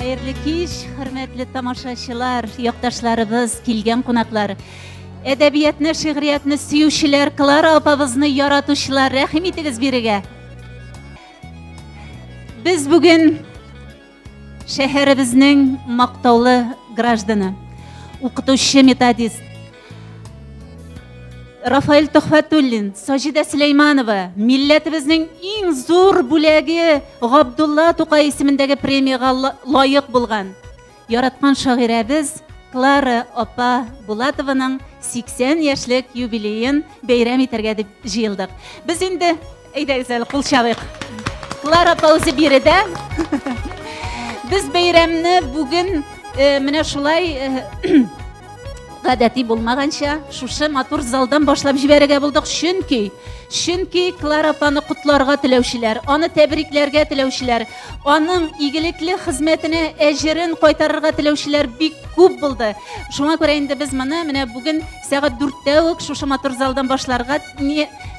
Хәерле кич, хөрмәтле тамашачылар, якташларыбыз, килгән кунаклар. Әдәбиятны, шигъриятны сөючеләр, Клара апабызны яратучылар, рәхим итегез бирегә. Без бүген Шәһәребезнең мактаулы гражданы, укытучы методист Рафаэль Төхфәтуллин, Саҗидә Сөләйманова, милләтебезнең иң зур бүләге Габдулла Тукай исемендәге премиягә лаек булган яраткан шагыйрәбез Клара апа Булатованың 80 яшьлек юбилеен бәйрәм итәргә дип җыелдык. Без инде Әйдәгез әле кул чабыйк. Клара апа үзе биредә. Без бәйрәмне бүген э, менә шулай э, гадәти булмаганча шушы матур залдан башлап җибәрергә булдык, чөнки чөнки Клара апаны котларга теләүчеләр, аны тәбрикләргә теләүчеләр, аның игелекле хезмәтенә әҗерен кайтарырга теләүчеләр бик күп булды. Шуңа күрә инде без моны менә бүген сәгать 4-тә үк шушы матур залдан башларга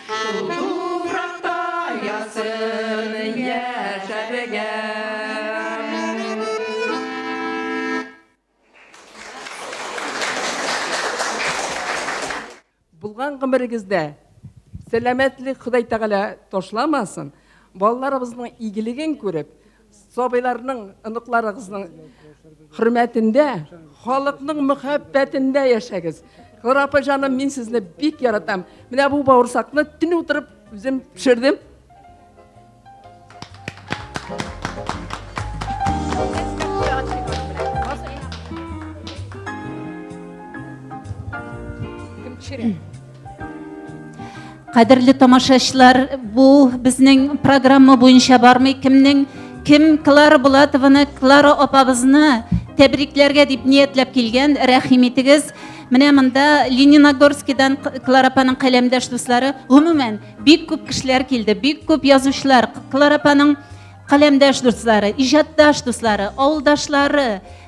Шул туфракта ясын яшәргә. Булган гомерегездә сәламәтлек Ходай Тәгалә ташламасын. Балаларыбызның игелеген күреп, Сабыйларның, оныкларыгызның хөрмәтендә, халыкның мөхәббәтендә яшәгез. Клара апа җаным, мин сезне бик яратам. Менә бу бавырсакны төн утырып үзем пешердем. Кадерле тамашачылар, бу безнең программа буенча бармый. Кемнең кем Клара Булатованы, Клара апабызны тәбрикләргә дип ниятләп килгән, рәхим итегез. Менә монда Лениногорскидан Клара апаның каләмдәш дуслары, гомумән, бик күп кешеләр килде, бик күп язучылар, Клара апаның каләмдәш дуслары, иҗатташ дуслары, авылдашлары,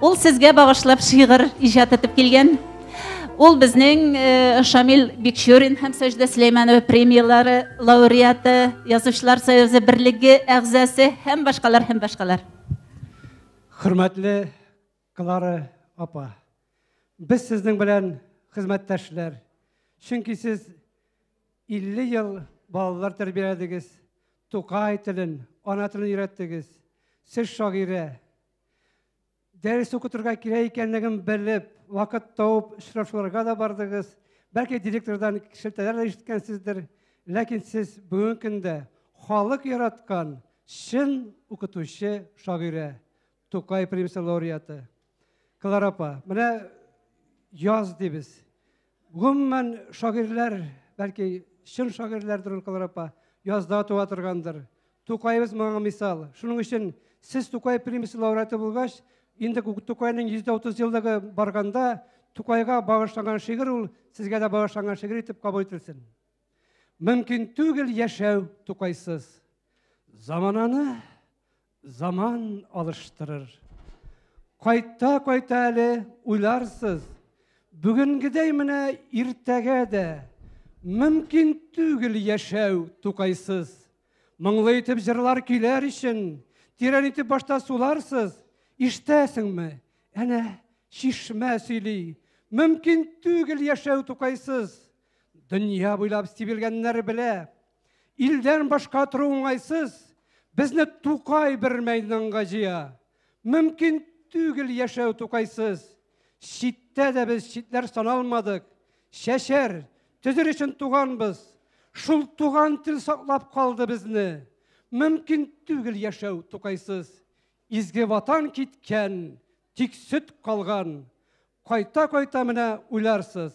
Ул сезгә багышлап шигырь иҗат итеп килгән. Ул безнең э, Шамил Бикчурин һәм Сәҗдә Сөләйманова премияләре лауреаты, Язучылар союзы берлеге әгъзасы һәм башкалар һәм башкалар. Хөрмәтле Клара апа, без сезнең белән хезмәттәшләр. Чөнки сез 50 ел балалар тәрбияләдегез, Тукай телен, ана телен өйрәттегез. Сез шагыйрә, Дәрес укытырга кирәк икәнлеген белеп, вакыт тауып очрашуларга да бардыгыз. Бәлки директордан шелтәләр дә ишеткәнсездер, ләкин сез бүгенге көндә халык яраткан чын укытучы шагыйрә, Тукай премиясе лауреаты. Клара апа, менә яз дибез. Гомумән, шагыйрьләр, бәлки, чын шагыйрьләрдер ул Клара апа, язда туа торгандыр. Тукаебыз моңа мисал. Шуның өчен сез Тукай премиясе лауреаты булгач, инде Тукайның 130 еллыгы барганда, Тукайга багышланган шигырь ул сезгә дә багышланган шигырь итеп кабул ителсен. Мөмкин түгел яшәү Тукайсыз. Замананы Заман алыштырыр. Кайта-кайта әле уйларсыз, бүгенгедәй менә иртәгә дә мөмкин түгел яшәү тукайсыз. Моңлы итеп җырлар көйләр өчен, тирән итеп башта суларсыз, ишетәсеңме? Әнә чишмә сөйли. Мөмкин түгел яшәү тукайсыз. Дөнья буйлап сибелгәннәр белә, Илдән башка тору уңайсыз, безне Тукай бер мәйданга җыя. Мөмкин түгел яшәү Тукайсыз. Читтә дә без читләр саналмадык. Чәчәр, төзер өчен туганбыз. Шул туган тел саклап калды безне. Мөмкин түгел яшәү Тукайсыз. Изге ватан киткән, тик сөт калган. Кайта-кайта менә уйларсыз.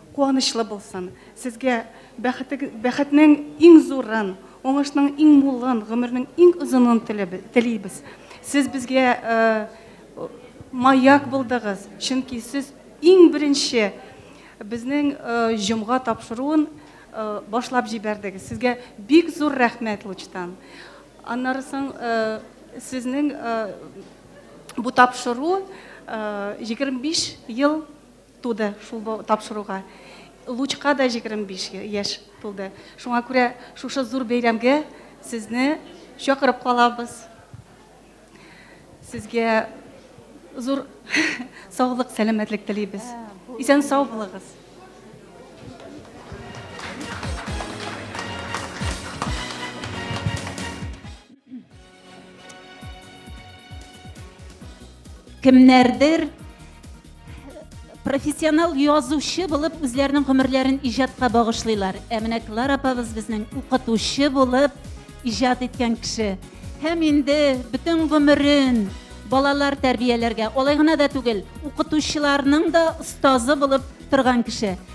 Куанычлы булсын! Сезгә бәхетег бәхетнең иң зурын, уңышның иң мулын, гомернең иң озынын теле телибез! Сез безгә э маяк булдыгыз, чөнки сез иң беренче безнең э җомга тапшыруын э башлап җибәрдегез! Сезгә бик зур рәхмәт лучтан! Аннары соң э сезнең э бу тапшыру э егерме биш ел Туды шул бу тапшыруга. Лучка да 25 яшь тулды. Шуңа күрә шушы зур бәйрәмгә сезне чакырып калабыз. Сезгә зур саулык, сәламәтлек телибез. Исән сау булыгыз. Кемнәрдер профессионал язучы булып үзләренең гомерләрен иҗатка багышлыйлар. Ә менә Клара апабыз безнең укытучы булып иҗат иткән кеше. Һәм инде бөтен гомерен балалар тәрбияләргә, алай гына да түгел, укытучыларның да остазы булып торган кеше.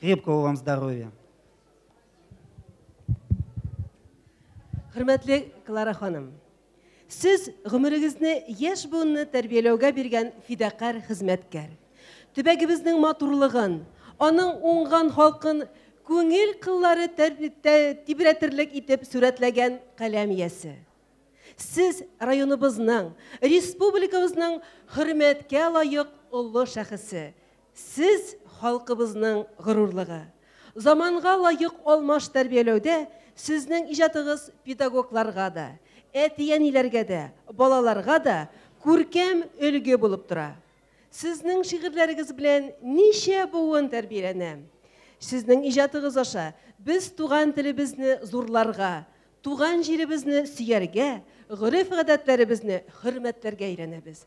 Крепкого вам здоровья. Хөрмәтле Клара ханым, сез гомерегезне яшь буынны тәрбияләүгә биргән фидакарь хезмәткәр. Төбәгебезнең матурлыгын, аның уңган халкын күңел кыллары тибрәтерлек итеп сүрәтләгән каләм иясе. Сез районыбызның, республикабызның хөрмәткә лаек олы шәхесе, Сез, халкыбызның горурлыгы. Заманга лаек алмаш тәрбияләүдә сезнең иҗатыгыз педагогларга да, әти-әниләргә дә, балаларга да күркәм өлге булып тора. Сезнең шигырьләрегез белән ничә буын тәрбияләнә. Сезнең иҗатыгыз аша без туган телебезне зурларга, туган җиребезне сөяргә, гореф-гадәтләребезне хөрмәтләргә өйрәнәбез.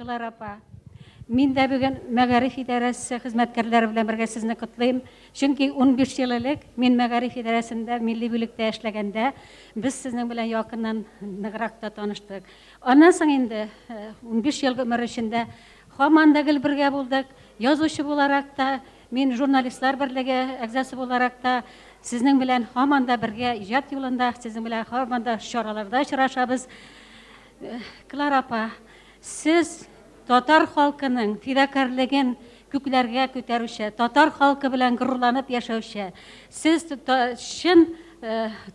Клара апа. Мин дә бүген мәгариф идарәсе хезмәткәрләре белән бергә сезне котлыйм. Чөнки 15 ел элек мин мәгариф идарәсендә милли бүлектә эшләгәндә без сезнең белән якыннан ныграк та таныштык. Аннан соң инде 15 э, ел гомер эчендә һаман да гел бергә булдык. Язучы буларак та, Мин журналистлар берлеге әгъзасы буларак та, сезнең белән һаман да бергә иҗат юлында, сезнең белән һаман да чараларда очрашабыз. Клара апа, сез татар халкының фидакарьлеген күкләргә күтәрүче, татар халкы белән горурланып яшәүче, сез чын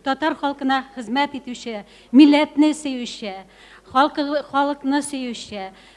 татар халкына хезмәт итүче, милләтне сөюче, халкы, халыкны сөюче,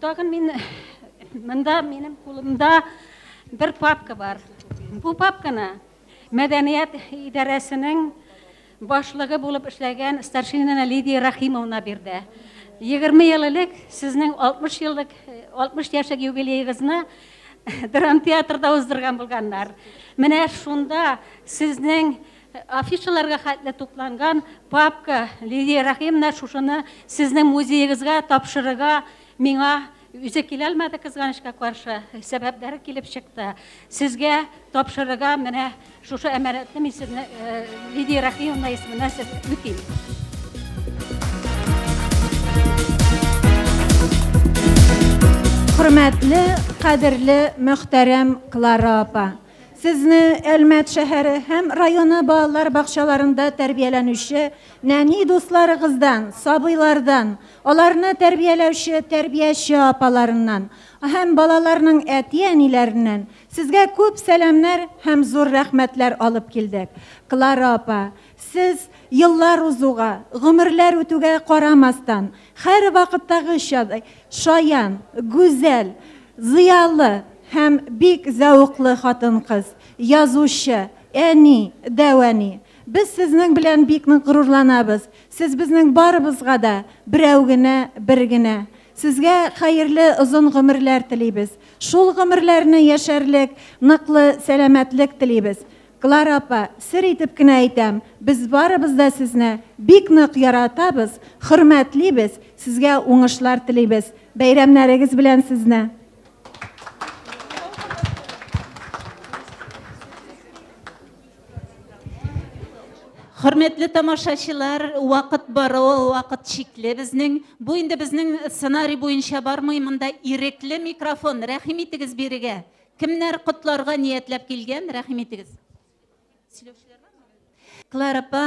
Тагын мин монда минем кулымда бер папка бар. Бу папканы мәдәният идарәсенең башлыгы булып эшләгән старшина Лидия Рахимовна бирде. 20 ел элек сезнең 60 еллык 60 яшьлек юбилеегызны драм театрда уздырган булганнар. Менә шунда сезнең Афишаларга хәтле тупланган папка, Лилия Рәхимовна, шушыны сезнең музеегызга тапшырырга миңа үзе килә алмады, кызганычка каршы, сәбәпләре килеп чыкты. Сезгә тапшырырга менә шушы әманәтне мин сезне Лидия Рәхимовна исеменә сез үтим. Хөрмәтле, кадерле, мөхтәрәм Клара апа! Сезне Әлмәт шәһәре һәм районы балалар бакчаларында тәрбияләнүче нәни дусларыгыздан, сабыйлардан, аларны тәрбияләүче тәрбияче апаларыннан һәм балаларның әти-әниләреннән сезгә күп сәламнәр һәм зур рәхмәтләр алып килдек. Клара апа, сез еллар узуга, гомерләр үтүгә карамастан, Һәрвакыттагыча, шаян, гүзәл, зыялы һәм бик зәвыклы хатын-кыз, язучы, әни, дәүәни. Без сезнең белән бик нык горурланабыз. Сез безнең барыбызга да берәү генә, бер генә. Сезгә хәерле озын гомерләр телибез. Шул гомерләрне яшәрлек ныклы сәламәтлек телибез. Клара апа, сер итеп кенә әйтәм, без барыбыз да сезне бик нык яратабыз, хөрмәтлибез, сезгә уңышлар телибез. Бәйрәмнәрегез белән сезне! Хөрмәтле тамашачылар, вакыт бару, вакыт чикле безнең. Бу инде безнең сценарий буенча бармый, монда ирекле микрофон. Рәхим итегез бирегә. Кемнәр котларга ниятләп килгән, рәхим итегез. Клара апа,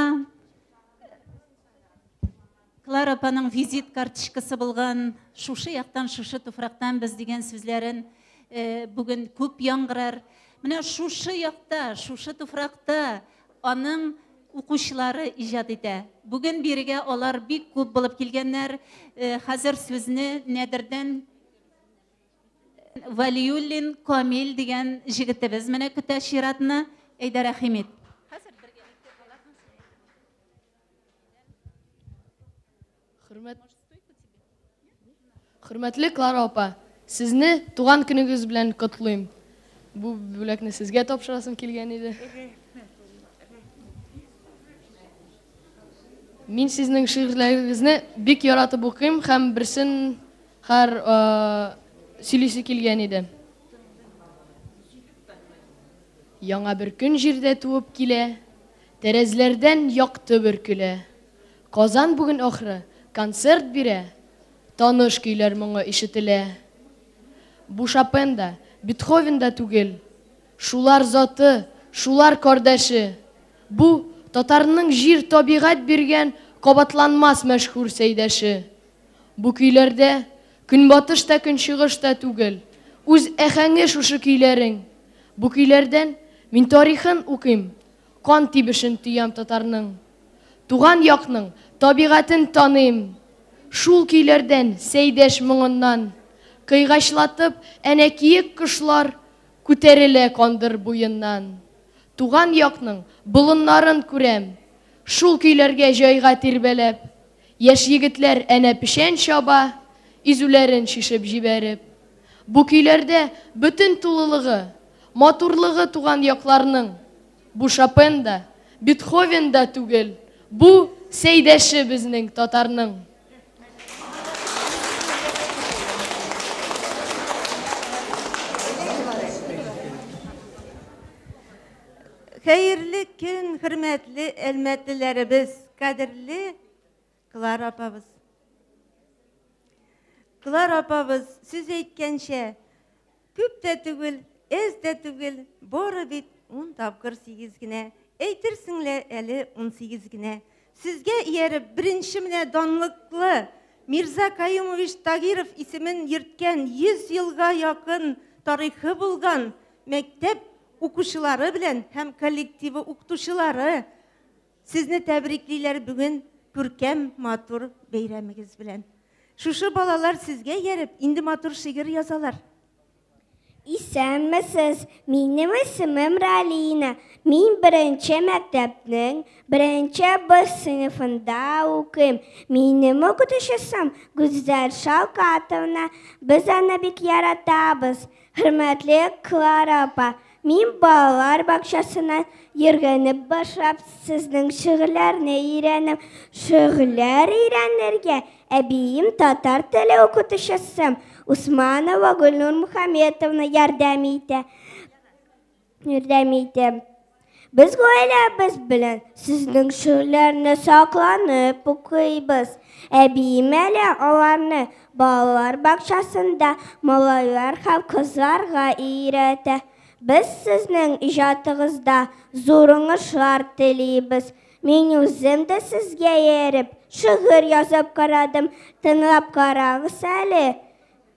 Клара апаның визит карточкасы булган шушы яктан, шушы туфрактан без дигән сүзләрен э, бүген күп яңгырар. Менә шушы якта, шушы туфракта аның укучылары иҗат итә. Бүген бирегә алар бик күп булып килгәннәр. Э, хәзер сүзне Нәдердән Валиуллин Камил дигән җегетебез менә көтә чиратны. Әйдә рәхим ит. Хөрмәт Хөрмәтле Клара апа, сезне туган көнегез белән котлыйм. Бу бүләкне сезгә тапшырасым килгән иде. Мин сезнең шигырьләрегезне бик яратып укыйм һәм берсен Хар сөйлисе килгән иде. Яңа бер көн җирдә туып килә, Тәрәзләрдән якты бөркелә. Казан бүген ахры концерт бирә, Таныш көйләр моңы ишетелә. Бу Шопен да, Бетховен да түгел, Шулар заты, шулар кардәше. Бу, татарның җир-табигать биргән Кабатланмас мәшһүр сәйдәше. Бу көйләрдә көнбатыш та көнчыгыш та түгел, үз әхәңе шушы көйләрең. Бу көйләрдән мин тарихын укыйм, кан тибешен тоям татарның. Туган якның табигатен таныйм. Шул көйләрдән Сәйдәш моңыннан кыйгачлатып әнә киек кошлар күтәрелә Кандыр буеннан. Туган якның болыннарын күрәм, шул көйләргә җайга тирбәләп. Яшь егетләр әнә печән чаба, изүләрен чишеп җибәреп. Бу көйләрдә бөтен тулылыгы, матурлыгы туган якларның. Бу Шопен да, Бетховен да түгел, бу, Сәйдәше безнең татарның. Хәерле көн, хөрмәтле әлмәтлеләребез! Кадерле Клара апабыз. Клара апабыз сүз әйткәнчә, күп тә түгел, әз дә түгел, бары бит 10 тапкыр 8 генә. Әйтерсең лә әле 18 генә. Сезгә ияреп, беренче менә данлыклы Мирза Каюмович Тагиров исемен йөрткән 100 елга якын тарихы булган мәктәп укучылары белән һәм коллективы укытучылары Сезне тәбриклиләр бүген күркәм, матур бәйрәмегез белән. Шушы балалар сезгә ярып, инде матур шигырь язалар. Исәнмесез, минем исемем Ралина. Мин беренче мәктәпнең беренче Б сыйныфында укыйм. Минем укытучысым Гүзәл Шалкатовна. Без аны бик яратабыз. Хөрмәтле Клара апа, Мин балалар бакчасына йөргәнеп башлап, сезнең шигырьләрне өйрәнем. Шигырьләр өйрәнергә әбием татар теле укытучысы Усманова Гөлнур Мухаметовна ярдәм итә. Ярдәм итә. Без гаиләбез белән сезнең шигырьләрне сакланып укыйбыз. Әбием әле аларны Балалар бакчасында малайлар һәм кызларга өйрәтә. Без сезнең иҗатыгызда зур уңышлар телибез. Мин үзем дә сезгә ияреп, шигырь язып карадым. Тыңлап карагыз әле.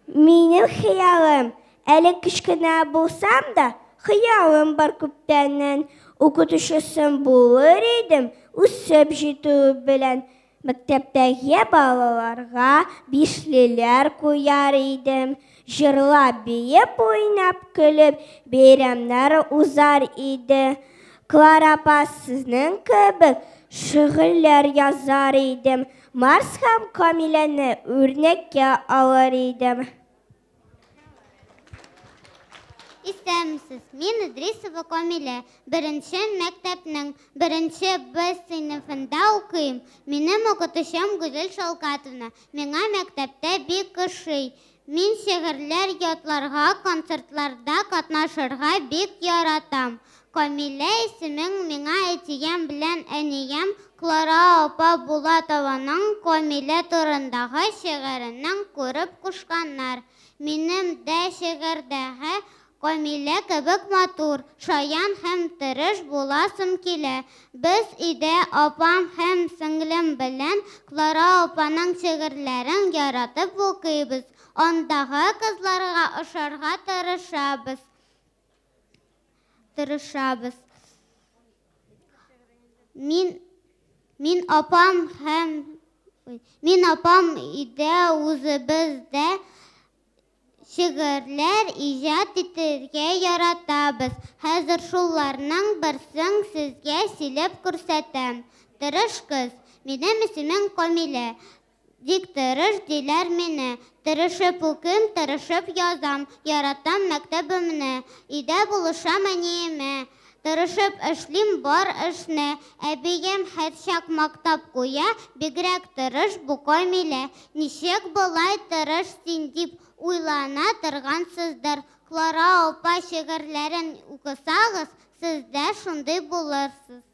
Минем хыялым, әле кечкенә булсам да, хыялым бар күптәннән. Укытучысым булыр идем, үсеп җитүе белән. Мәктәптәге балаларга бишлеләр куяр идем, җырлап, биеп, уйнап, көлеп, бәйрәмнәр узар иде. Клара апа, сезнең кебек шигырьләр язар идем, Марс һәм Камиләне үрнәккә алыр идем. Исәнмесез, мин Идрисова Камилә, беренче мәктәпнең беренче Б сыйныфында укыйм. Минем укытучым Гүзел Шалкатовна миңа мәктәптә бик ошый. Мин шигырьләр ятларга, концертларда катнашырга бик яратам. Камилә исемең миңа әтием белән әнием Клара апа Булатованың Камилә турындагы шигыренең күреп кушканнар. Минем дә шигырьдәге Камилә кебек матур, шаян һәм тырыш буласым килә. Без өйдә апам һәм сеңлем белән Клара апаның шигырьләрен яратып укыйбыз, андагы кызларга ошарга тырышабыз. Тырышабыз. Мин мин апам һәм мин апам өйдә үзебез дә шигырьләр иҗат итәргә яратабыз. Хәзер шуларның берсен сезгә сөйләп күрсәтәм. Тырыш кыз. Минем исемем Камилә. Бик тырыш диләр мине. Тырышып укыйм, тырышып язам. Яратам мәктәбемне. Өйдә булышам әниемә. Тырышып эшлим бар эшне. Әбием һәрчак мактап куя, Бигрәк тырыш бу Камилә. Ничек болай тырыш син? дип уйлана торгансыздыр. Клара апа шигырьләрен укысагыз, сез дә шундый булырсыз.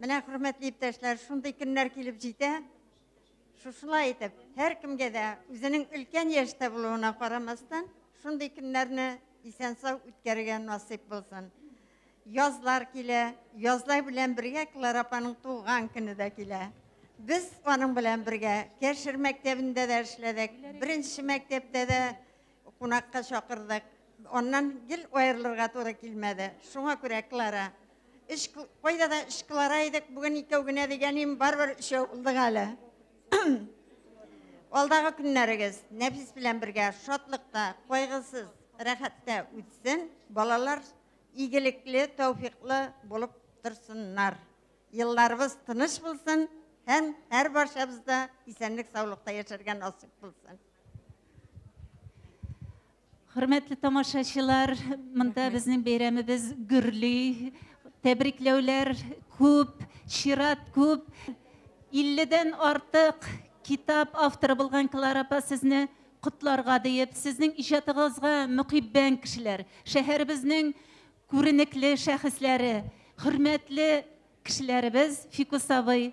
Менә, хөрмәтле иптәшләр, шундый көннәр килеп җитә. Шушылай итеп, һәркемгә дә үзенең өлкән яшьтә булуына карамастан, шундый көннәрне исән-сау үткәрергә насыйп булсын. Язлар килә, язлар белән бергә Клара апаның туган көне дә килә. Без аның белән бергә Кәшер мәктәбендә дә эшләдек. Беренче мәктәптә дә Кунакка чакырдык. Аннан гел аерылырга туры килмәде. Шуңа күрә Клара. Өч, кайда да өч Клара идек, бүген икәү генә дигәнем, барыбер өчәү булдык әле. Алдагы көннәрегез Нәфис белән бергә шатлыкта, кайгысыз, рәхәттә үтсен. Балалар игелекле, тәүфиклы булып торсыннар. Елларыбыз тыныч булсын һәм һәрбарчабыз да исәнлек-саулыкта яшәргә насыйп булсын. Хөрмәтле тамашачылар, монда безнең бәйрәмебез гөрли. Тәбрикләүләр күп, чират күп. 50-дән артык китап авторы булган Клара апа сезне котларга диеп, сезнең иҗатыгызга мөкиббән кешеләр, шәһәребезнең күренекле шәхесләре, хөрмәтле кешеләребез Фикус абый,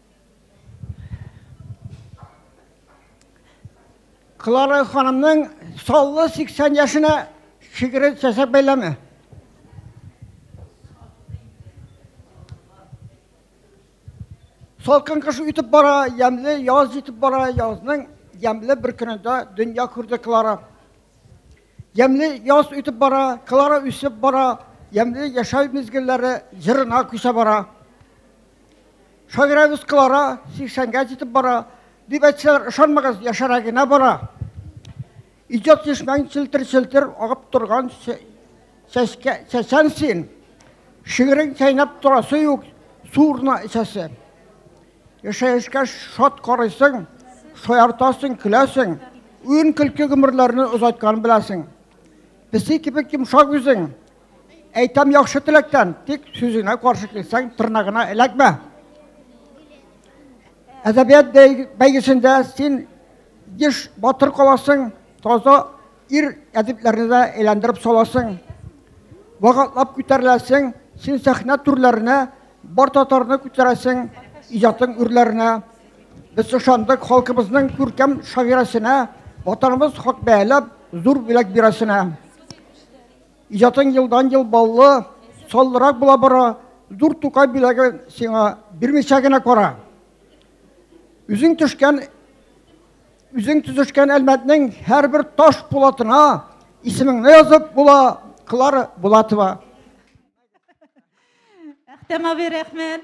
Клара ханымның саллы 80 яшенә шигыры чәчәк бәйләме. Салкын кыш үтеп бара, ямле яз җитеп бара, язның ямле бер көнендә дөнья күрде Клара. Ямле яз үтеп бара, Клара үсеп бара, ямле яшәү мизгелләре җырына күчә бара. Шагыйрәбез Клара 80-гә җитеп бара, дип әйтсәләр, ышанмагыз, яшәрә генә бара. Иҗат чишмәң челтер-челтер агып торган чәчкә, чәчән син. Шигырең чәйнәп торасы юк, су урнына эчәсе. Яшәешкә шат карыйсың, шаяртасың, көләсең, уен-көлке гомерләрне озайткан беләсең. Песи кебек йомшак үзең, Әйтәм яхшы теләктән, тик сүзеңә каршы килсәң, тырнагына эләкмә. Әдәбият бәйгесендә син еш батыр каласың, таза ир әдипләрне дә әйләндереп саласың. Вакытлап күтәреләсең, син сәхнә түрләренә бар татарны күтәрәсең, иҗатың үрләренә. Без ышандык халкыбызның күркәм шагыйрәсенә, ватаныбыз хак бәяләп, зур бүләк бирәсенә. Иҗатың елдан-ел баллы, саллырак була бара, зур Тукай бүләген сиңа бирмичә генә кара. Үзең төшкән үзең төзешкән Әлмәтнең һәрбер таш пулатына исемеңне язып була, Клара Булатова. Әхтәм абый, рәхмәт.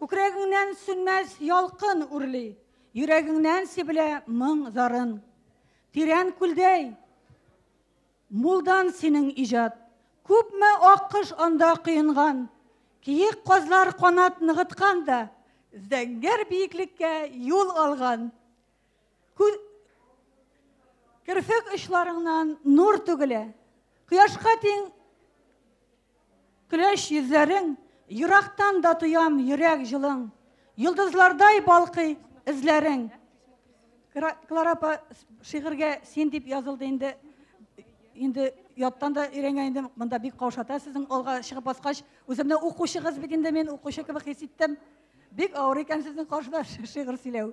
Күкрәгеңнән сүнмәс ялкын үрли, Йөрәгеңнән сибелә моң зарын. Тирән күлдәй, мулдан синең иҗат, Күпме ак кош анда коенган, Киек казлар канат ныгыткан да, Зәңгәр биеклеккә юл алган. Керфек очларыңнан нур түгелә, Кояшка тиң. Көләч йөзләрең, Ерактан да тоям йөрәк җылың, Йолдызлардай балкый эзләрең. Клара апа, шигырьгә син дип язылды инде. Инде яттан да өйрәнгән идем. Монда бик каушата сезнең алга чыгып баскач. Үземне укучыгыз бит инде мин, укучы кебек хис иттем. Бик авыр икән сезнең каршыда шигырь сөйләү.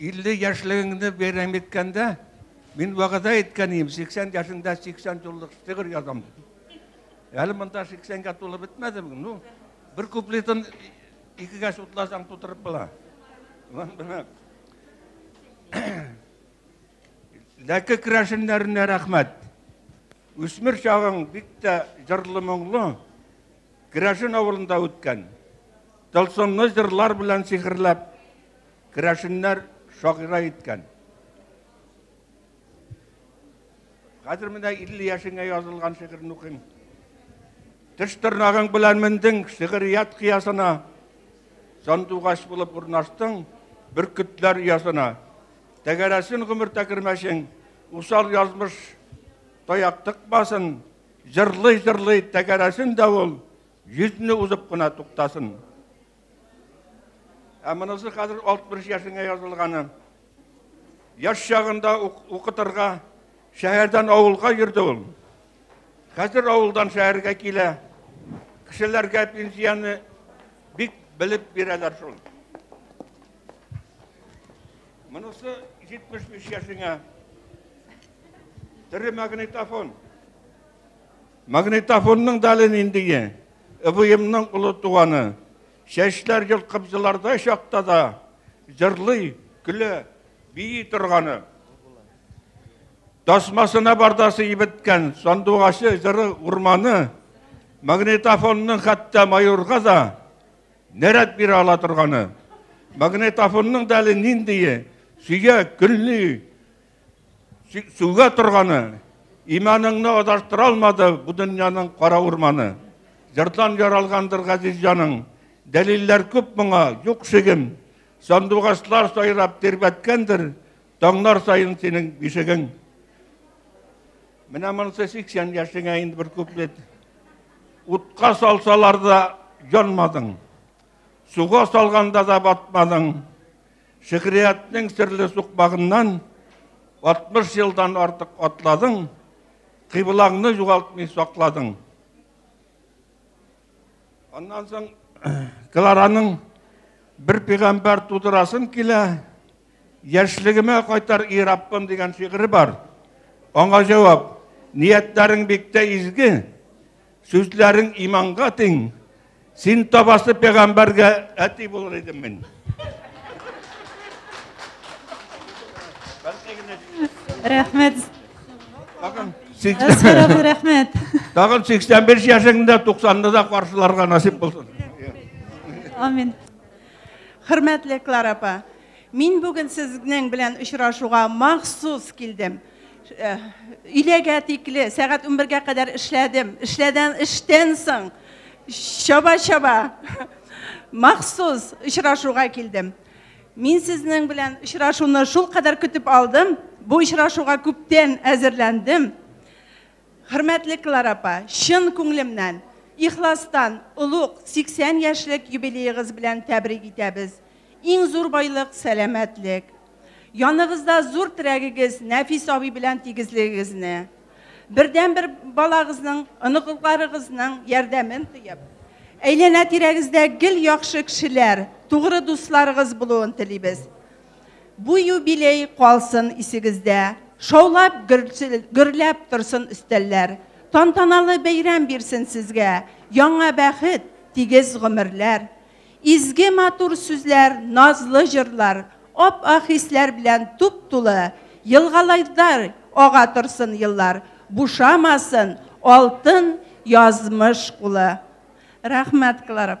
50 яшьлегеңне бәйрәм иткәндә, мин вәгъдә иткән идем, 80 яшендә 80 юллык шигырь язам дип. Әле монда 80-гә тулып бетмәдем. Ну, бер куплетын икегә сутласаң тутырып була. Ләке керәшеннәренә рәхмәт. Үсмер чагың бик тә җырлы моңлы. Керәшен авылында үткән. Тылсымны җырлар белән сихерләп Керәшеннәр шагыйрә иткән. Хәзер менә 50 яшеңә язылган шигырен укыйм. Теш тырнагың белән мендең шигырият кыясына. Сандугач булып урнаштың бөркетләр ясына. Тәгәрәсен гомер тәкермәшең, усал язмыш таяк тыкмасын. Җырлый-җырлый тәгәрәсен дә ул, йөзне узып кына туктасын. Ә монысы хәзер 60 яшеңә язылганы. Яш чагында укытырга шәһәрдән авылга йөрде ул. Хәзер авылдан шәһәргә килә. Кешеләргә пенсияне бик белеп бирәләр шул. Монысы 75 яшеңә. Тере магнитофон. Магнитофонның дәле ниндие? Ыбыемның олы туганы. Чәчләр йолкып елардай чакта да, җырлый, көлә, бии торганы. Тасмасына бардасы ибеткән сандугачы җыры урманы, магнитофонның хәтта майорга да нәрәт бирә ала торганы. Магнитофонның да әле ниндие, сөя, көнли, Сүгә торганы, иманыңны адаштыра алмады бу дөньяның кара урманы. Җырдан яралгандыр газиз җаның, дәлилләр күп моңа, юк шигем. Сандугачлар сайрап тирбәткәндер, таңнар саен синең бишегең. Менә монысы 80 яшеңә инде бер куплет. Утка салсалар да янмадың. Суга салганда да батмадың. Шигъриятнең серле сукмагыннан 60 елдан артык атладың, кыйблаңны югалтмый сакладың. Аннан соң Клараның бер пигамбар тудырасым килә, яшьлегемә кайтар и Раббым дигән шигыре бар. Аңа җавап, ниятләрең биктә изге, Сүзләрең иманга тиң. Син табасы пәгамбәргә әти булыр идем мин. Рәхмәт. Тагын 80 рәхмәт. Тагын 85 яшеңдә 90-да да каршыларга насип булсын. Амин. Хөрмәтле Клара апа, мин бүген сезнең белән очрашуга махсус килдем. Э, өйләгә тикле сәгать унбергә кадәр эшләдем эшләдән эштән соң чаба чаба махсус очрашуга килдем мин сезнең белән очрашуны шул кадәр көтеп алдым бу очрашуга күптән әзерләндем хөрмәтле клара апа чын күңелемнән ихластан олуг 80 яшьлек юбилеегыз белән тәбрик итәбез Иң зур байлык, сәламәтлек. Яныгызда зур терәгегез Нәфис абый белән тигезлегегезне, бердәнбер балагызның, оныкларыгызның ярдәмен тоеп, әйләнә-тирәгездә гел яхшы кешеләр, тугры дусларыгыз булуын телибез. Бу юбилей калсын исегездә, шаулап, гөрләп торсын өстәлләр. Тантаналы бәйрәм бирсен сезгә, яңа бәхет, тигез гомерләр. Изге матур сүзләр, назлы җырлар, ап-ак хисләр белән туп-тулы елгалайдай ага торсын еллар, бушамасын алтын язмыш кулы. Рәхмәт, Клара.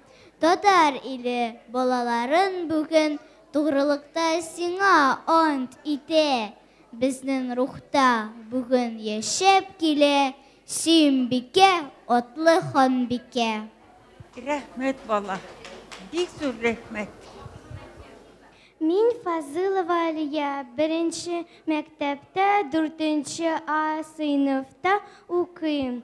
Татар иле балаларын бүген Тугрылыкта сиңа ант итә. Безнең рухта бүген яшәп килә Сөембикә атлы ханбикә. Рәхмәт бала, бик зур рәхмәт. Мин Фазылова Алия, беренче мәктәптә дүртенче А сыйныфта укыйм.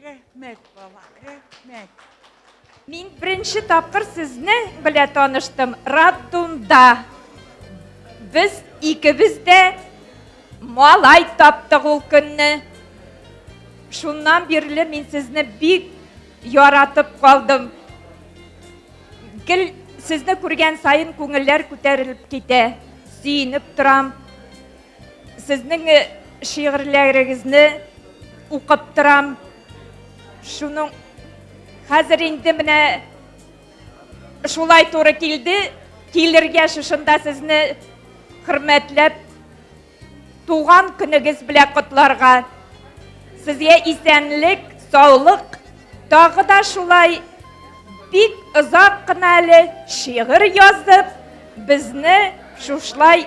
Рәхмәт, бала, рәхмәт. Мин беренче тапкыр сезне белә таныштым Раддунда. Без икебез дә малай таптык ул көнне. Шуннан бирле мин сезне бик яратып калдым. Гел сезне күргән сайын күңелләр күтәрелеп китә. Сөенеп торам. Сезнең шигырьләрегезне укып торам. Шуның хәзер инде менә шулай туры килде, килергә шушында сезне хөрмәтләп туган көнегез белән котларга. Сезгә исәнлек, саулык, тагы да шулай бик озак кына әле шигырь язып, безне шушлай